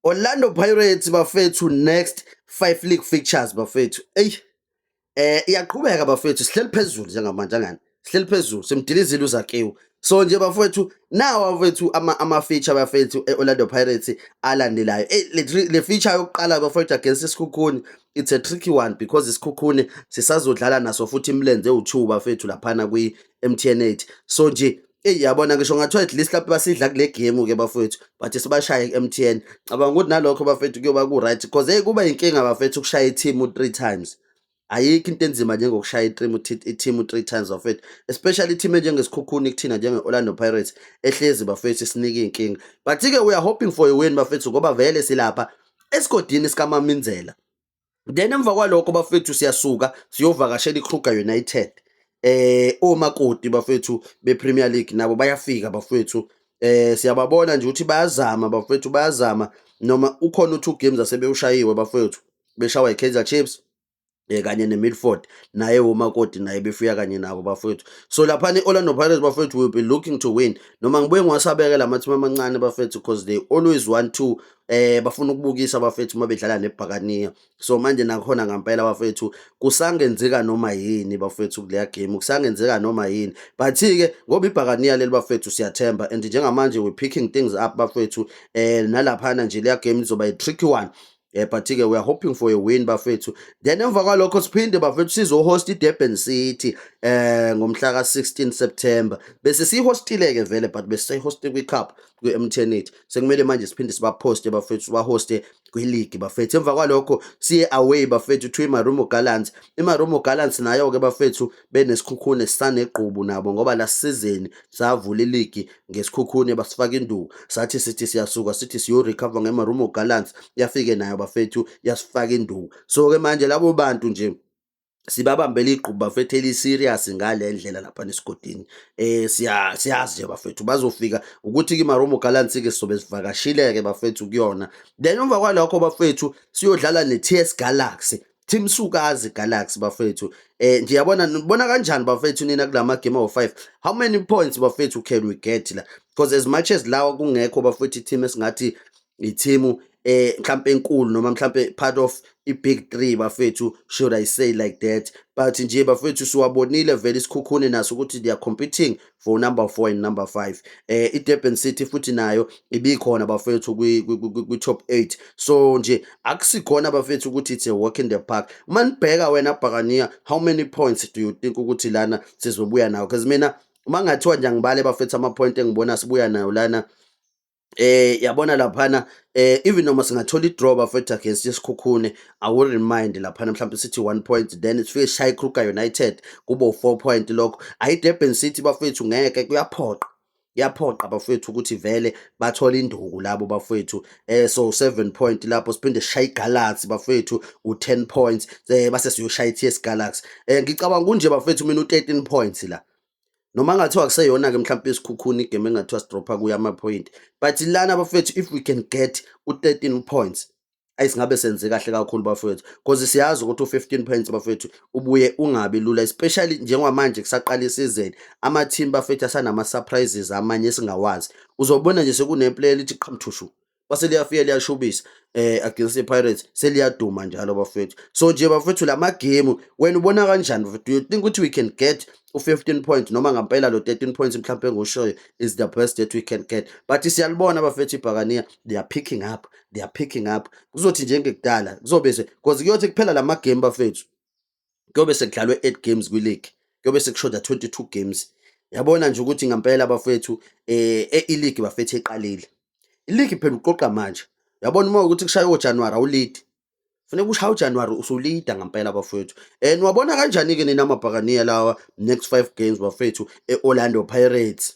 Orlando Pirates bafethu next 5 league fixtures bafethu. Ey. Eh iyaqhubeka bafethu sihleli phezulu njengamanje angani. Sihleli phezulu simdilizile uzakiwe. So nje bafethu nawa bafethu ama ama feature bafethu eOrlando Pirates alandelayo. Eh le, le feature yokuqala bafethu against isikhukhuni it's a tricky one because isikhukhuni sisazodlala naso futhi imlenze u2 bafethu laphana kwi MTN8 so nje eyi yabona ngisho ngathiwa at least lapho basidla kule game ke bafowethu but sibashaye ku-MTN cabanga ukuthi nalokho bafethu kuyoba ku-right because eyi kuba yinkinga bafethu ukushaya ithimu three times ayikho into enzima njengokushaya ithimu ithimu three times bafethu especially ithimu enjengesikhukhuni kuthina njenge-orlando pirates ehlezi bafethu isinika iy'nkinga but-ke we are hoping for a win bafethu ngoba vele silapha esigodini sikamaminzela then emva kwalokho bafethu siyasuka siyovakashela ikruger united eh omakoti bafethu bepremier league nabo bayafika bafethu eh siyababona nje ukuthi bayazama bafethu bayazama noma ukhona u2 games asebewushayiwe bafethu beshawa ikaizer chiefs eh kanye neMilford naye womakoti naye befuya kanye nabo bafethu so lapha neOrlando Pirates bafethu will be looking to win noma ngibuye ngiwasabeke lamathima amancane bafethu because they always want to eh bafuna ukubukisa abafethu uma bedlala nebhakaniya so manje nakhona ngampela abafethu kusangenzeka noma yini bafethu kuleya game kusangenzeka noma yini but ke ngoba ibhakaniya leli bafethu siyathemba and njengamanje we picking things up bafethu eh nalaphana nje leya game izoba i tricky one eh but ke we are hoping for a win bafethu then emva kwalokho siphinde bafethu sizo host iDurban City eh ngomhla ka 16 September bese sihostile ke vele but bese sihost kwi cup kwi-mtnet sekumele manje siphinde sibaphoste bafethu sibahoste kwiligi bafethu emva kwalokho siye away bafethu to imarumo gallants imarumo gallants nayo-ke bafethu benesikhukhune sisanegqubu nabo ngoba la sizeni savula iligi ngesikhukhune basifaka induku sathi sithi siyasuka sithi siyorecover ngemarumo gallants yafike nayo bafethu yasifaka induku so-ke manje labo bantu nje sibabambela igqubu bafethu eli-serious ngale ndlela lapha nesigodini um siyazi nje bafethu bazofika ukuthi kimaromo galansi-ke sizobe sivakashile-ke bafethu kuyona then emva kwalokho bafethu siyodlala ne-t s galaxy Team Sukazi Galaxy bafethu eh nje yabona nibona kanjani bafethu nina kulama game of 5 how many points bafethu can we get la because as much as lawa kungekho bafethu team esingathi yithimu eh mhlambe enkulu noma mhlambe part of i-big three bafethu should i say like that but nje bafethu siwabonile vele isikhukhune naso ukuthi they are competing for number four and number five eh i-durban city futhi nayo ibikhona bafethu kwi-top eight so nje akusikhona bafethu ukuthi it's a walk in the park uma nibheka wena bhakaniya how many points do you think ukuthi lana sizobuya nawo because mina uma ngathiwa nje angibale bafethu ama-point engibona sibuya nayo lana Eh yabona laphana eh even noma singathola i-draw bafethu against isikhukhune i will remind laphana mhlawumbe sithi one point then sifike sishaye ikruger united kube u-four point lokho ayidurban city bafethu ngeke kuyaphoqa kuyaphoqa bafethu ukuthi vele bathole induku labo bafethu eh so 7 point lapho siphinde sishaye igalaxy bafethu u10 points eh base siyoshaya iTS Galaxy eh ngicabanga kunje bafethu mina u13 points la noma ngathiwa kuseyona-ke mhlawumpe isikhukhuni igame engathiwa sidropha kuyo amaphoyinti but lana bafethu if we can get u-thirteen points ayi singabe senze kahle kakhulu bafethu because siyazi ukuthi u-fifteen points bafethu ubuye ungabi lula especially njengamanje kusaqala isizeni ama-team bafethu asanama-surprises amanye esingawazi uzobona nje sekuneplayer lithi qhamthushu kwase liyafika liyashubisa eh against iPirates seliyaduma njalo bafethu so nje bafethu lama game wena ubona kanjani bafethu you think ukuthi we can get u15 point noma ngampela lo 13 points mhlawumbe engoshoyo is the best that we can get but siyalibona bafethu ibhakaniya they are picking up they are picking up kuzothi njengekudala kuzobe se because kuyothi kuphela lama game bafethu kuyobe sekudlalwe 8 games kwi league kuyobe sekushoda 22 games yabona nje ukuthi ngempela bafethu eh e league bafethu iqalile i league phela uqoqa manje yabona uma ukuthi kushaya oJanuary awulead Funeka ushaya uJanuary usulida ngempela bafowethu. Eh niwabona kanjani ke nina amabhakaniya lawa next 5 games bafethu eOrlando Pirates?